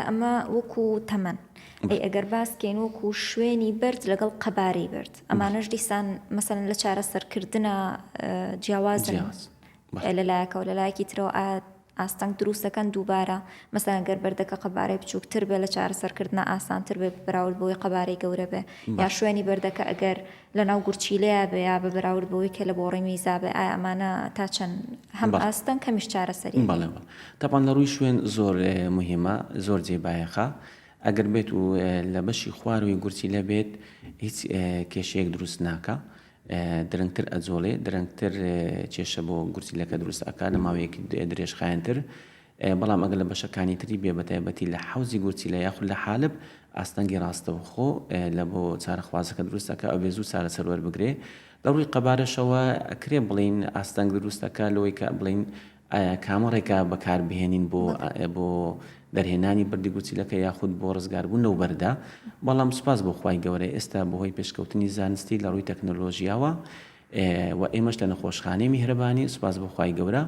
ئەمە وەکو تەمەن ئەی ئەگەر باس کەین وەکو شوێنی بەرد لەگەڵ قەبارەی برد ئەمانەش دیسان مەسەن لە چارەسەرکردە جیاواز لە لایەکەەوە لە لایەکی ترەوە ئاات ئاستەنگ دروستەکەن دووبارە مەسەن گەر بەردەکە قەبارەی بچووکتر بێ لە چارەسەرکردە ئاسانتر بێ براورد بۆی قەبارەی گەورە بێ یا شوێنی بەردەکە ئەگەر لە ناو گورچیلەیا بێ یا بە بەراورد بەوەی کە لە بۆڕی میزا بێ ئایا ئەمانە تا چەند هەم ئاستن کەمیش چارەسەری هەیە؟ بەڵێ تەبعەن لە ڕووی شوێن زۆر موهیمە زۆر جێی بایەخە ئەگەر بێت و لە بەشی خوارووی گورچیلە بێت هیچ کێشەیەک دروست ناکا درەنگتر ئەجۆڵێ درەنگتر کێشە بۆ گورچیلەکە دروست ئەکا لە ماوەیەکی درێژخایەنتر بەڵام ئەگەر لە بەشەکانی تری بێ بەتایبەتی لە حەوزی گورچیلە یاخود لە حالب ئاستەنگی ڕاستەوخۆ لە بۆ چارەخوازەکە دروستەکە ئەبێ زوو چارەسەر وەربگرێ لە ڕووی قەبارەشەوە ئەکرێ بڵین ئاستەنگ دروستەکە لەوەی کە بڵین کامە ڕێکا بەکاربهێنین بۆ بۆ دەرهێنانی بردی گوچیلەکە یاخود بۆ ڕزگاربوون لەو بەردا بەڵام سوپاس بۆ خی گەورە ئێستا بەهۆی پێشکەوتنی زانستی لە ڕووی تەکنۆلۆژیاوە وە ئێمەش لە نەخۆشخانەی میهرەبانی سوپاس بۆ خوای گەورە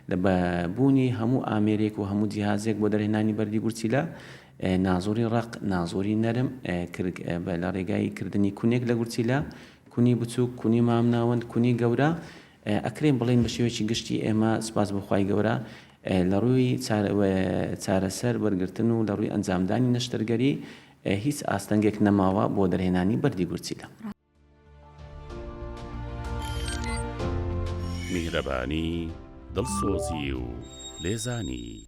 لە بە بوونی هەموو ئامێرێک و هەموو جیهازێک بۆ دەرهێنانی بەردی گورچیلە نازوری ڕەق نازوری نەرم لە ڕێگای کردنی کونێک لە گورچیلە کونی بچووک کونی مامناوەند کونی گەورە ئەکرێن بڵێن بە شێوەیەکی گشتی ئێمە سوپاس بۆ خوای گەورە لە ڕووی چارەسەر وەرگرتن و لە ڕووی ئەنجامدانی نەشتەرگەری هیچ ئاستەنگێک نەماوە بۆ دەرهێنانی بەردی گورچیلە. میهرەبانی، دڵسۆزی و لێزانی.